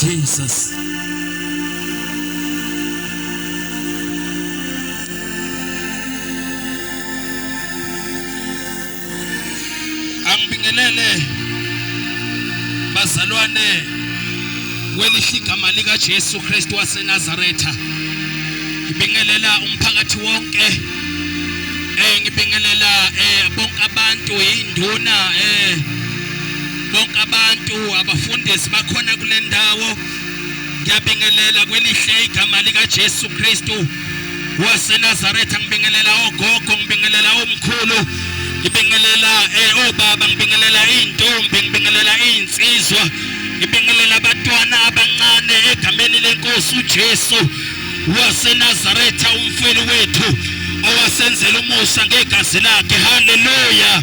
Jesus. Angibingelele bazalwane kwelihle igama lika Jesu Kristu waseNazaretha. Ngibingelela umphakathi wonke. Eh ngibingelela eh bonke abantu induna eh bonke abantu abafundisi bakhona kule ndawo ngiyabingelela kwelihle igama likaJesu Kristu waseNazaretha ngibingelela ogogo ngibingelela omkhulu ngibingelela eh, obaba ngibingelela izintombi ngibingelela izinsizwa ngibingelela abantwana abancane egameni lenkosi uJesu waseNazaretha umfeli wethu owasenzela umusa ngegazi lakhe haleluya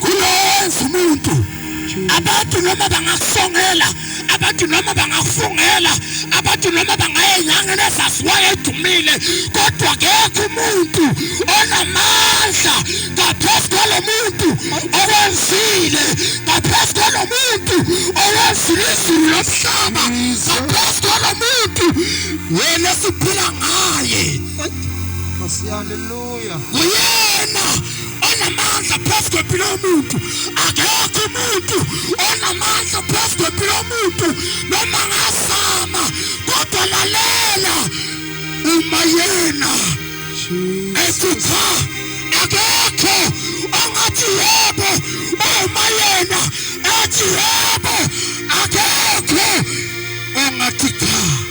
kulowenza umuntu abantu noma bangakusongela abantu noma bangakufungela abantu noma bangayenyanga nezaziwayo edumile kodwa kekho umuntu onamandla ngaphezu kwalo muntu okwenzile ngaphezu kwalo muntu owenzile izulu lomhlaba ngaphezu kwalo muntu wena siphila ngaye Uyena onamandla phezu kwempilo yomuntu. Akekho umuntu onamandla phezu kwempilo yomuntu noma ngazama kodwa lalela uma yena ekhupha akekho ongathi yebo uma yena ethi yebo akekho ongathi cha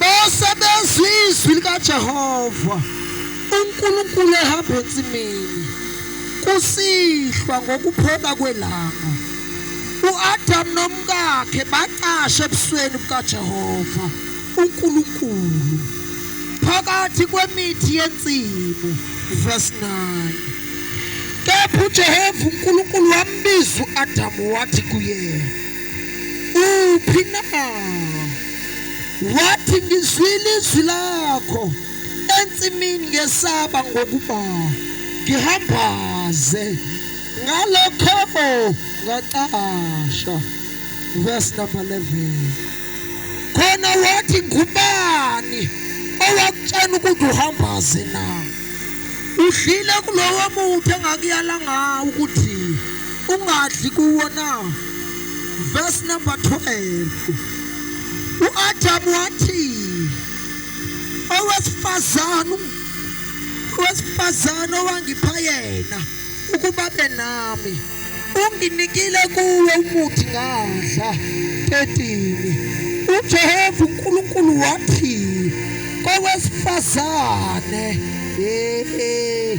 bose bezwa izwi likaJehova uNkulunkulu ehamba ensimini kusihlwa ngokuphola kwelanga uAdam nomkakhe bacashe ebusweni bukaJehova uNkulunkulu phakathi kwemithi yensimu verse 9 kepha uJehova uNkulunkulu wambiza uAdamu wathi kuyena uphi na wathi ngizwile izwi lakho ensimini ngesaba ngokuba ngihambaze ngalokho ngacasha verse number 11 khona wathi ngubani owakutshena ukuthi uhambaze na udlile kulowo muthi engakuyala ngawo ukuthi ungadli kuwo na verse number 12 uAdamu wathi owesifazane owesifazane owangipha yena ukuba benami unginikile kuwe umuthi ngadla 13 uJehova uNkulunkulu wathi kowesifazane eh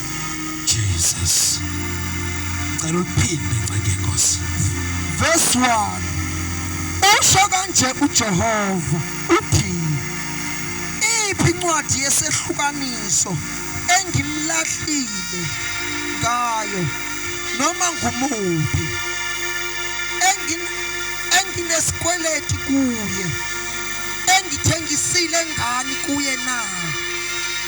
Jesus. Cela uliphinde nceke Nkosi. Verse 1. Usho kanje uJehova uthi iphi incwadi yesehlukaniso engimlahlile ngayo noma ngumuphi engin enginesikweleti kuye engithengisile ngani kuye na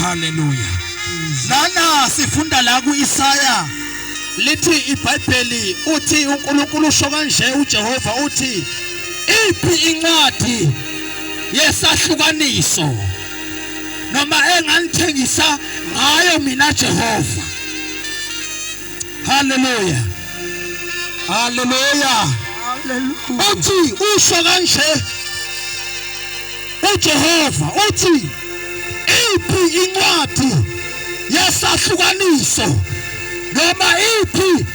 haleluya nana sifunda la ku-isaya lithi ibhayibheli uthi unkulunkulu usho kanje ujehova uthi iphi incwadi yesahlukaniso noma enganithengisa ngayo mina jehova haleluya haleluya Hallelujah. uthi usho kanje uJehova uthi iphi incwadi yesahlukaniso noma iphi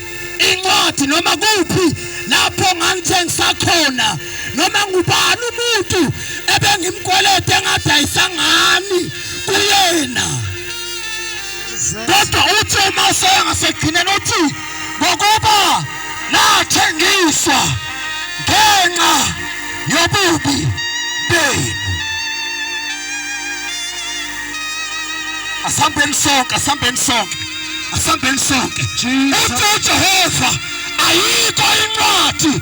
incwadi noma kuphi lapho ngangithengisa khona noma ngubani umuntu ebengimkwelede engadayisa ngani kuyena kodwa uthi uma usaya ngasekugcineni uthi ngokuba nathengiswa ngenxa yobubi benu asambeni sonke asambeni sonke asambeni sonke uthi ujehova ayikho incwadi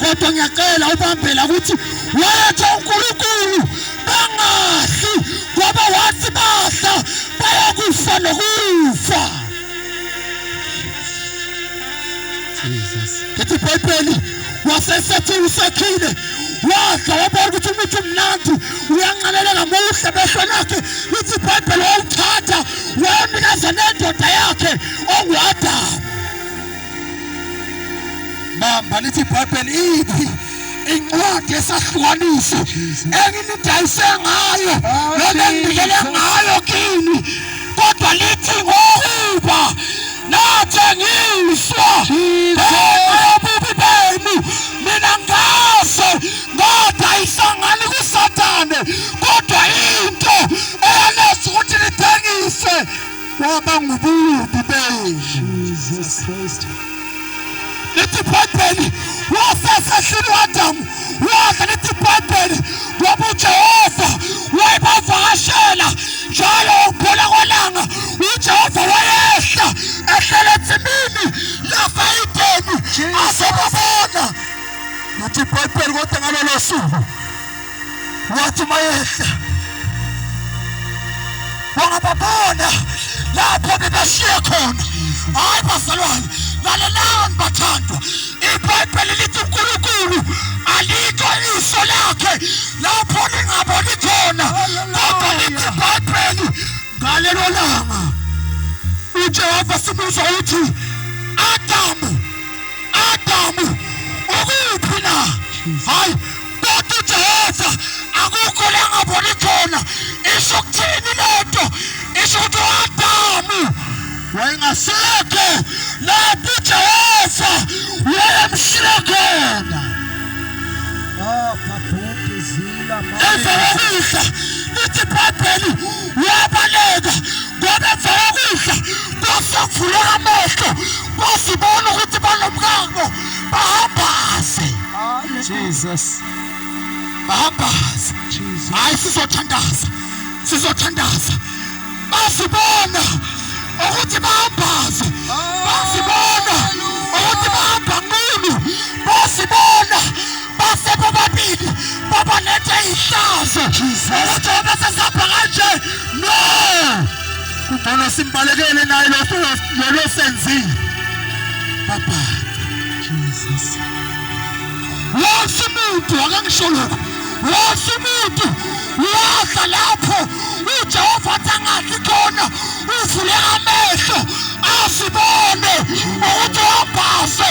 kodwa ngiyacela ubambela ukuthi wathi uNkulunkulu bangafi ngoba wathi bahla bayakufa nokufa Jesus ngithi ibhayibheli wasesethi usekhile wadla wabona ukuthi umuthi umnandi uyanqaleleka muhle behlo lakhe lithi ibhayibheli wawuthatha wawunikeza nendoda yakhe onguadamu bamba lithi ibhayibheli iphi incwadi yesahlukaniso enginidayise ngayo noma enginikele ngayo kini kodwa lithi ngokuba nathengiswa ngobubi benu mina ngaze ngadayisangani kusathane kodwa into eyaneza ukuthi nithengise kwaba ngububi benje Jesus Christ lithi ibhayibheli wasesehlini wadamu wadla lithi ibhayibheli ngoba ujehova wayebavakashela njalo ukuphola kwelanga ujehova wayehla ehlele etsimini lafayideni azobabona nathi ibhayibheli kodwa ngalolo suku wathi mayehla wangababona lapho bebashiye khona hayi bazalwane lalelani bathandwa ibhayibheli lithi unkulunkulu alikho iso lakhe lapho lingaboni khona kodwa lithi ibhayibheli ngalelo langa ujehova sibuza uthi adamu adamu ukuphi na hayi kodwa ujehova akukho la ngaboni khona isho ukuthini le nto isho ukuthi uadamu wayengasekho lapho ujehova wayemshile khona emva kokudla lithi ibhayibheli wabaleka ngoba emva kokudla kwase kuvuleka amehlo wasibona ukuthi banomkako bahambaze Jesus. bahambaze Jesus. hayi sizothandaza sizothandaza bazibona ukuthi bahambaze bazibona ukuthi bahamba nkulu bazibona base bobabili babalethe ihlazo esithobe sesapha kanje no kungcono simbalekele naye lolo senzile baba jesus wonke umuntu akangisho lokho wonke umuntu wadla lapho ujehova athi angadli khona uvule amehlo asibone ukuthi wabhase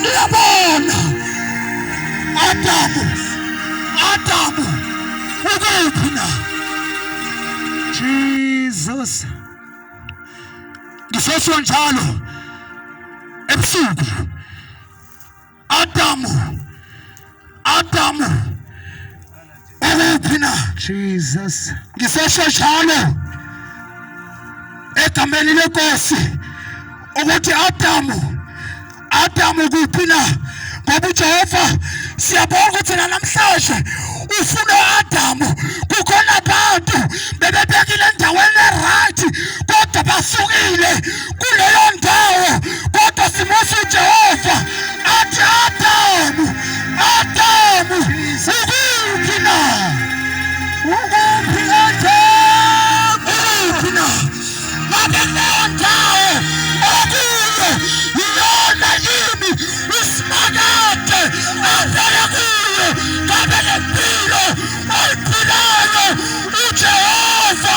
Niyabona Adamu, Adamu ukuphi na? Jesus, ngisesho njalo ebusuku Adamu Adamu ukuphi na Jesus ngisesho njalo egameni lenkosi ukuthi Adamu Adamu kuphi na ngoba uJehova siyabonga ukuthi namhlanje ufuna uAdamu kukhona abantu bebebekile endaweni eright kodwa basukile kuleyo ndawo kodwa simusa ujehova athi adamu adamu ukuphi na ukuphi adamu ukuphi na ngabe kuleyo ndawo okuyo yiyona yini usimakade avele kuyo ngabe le mpilo oyiphilayo ujehova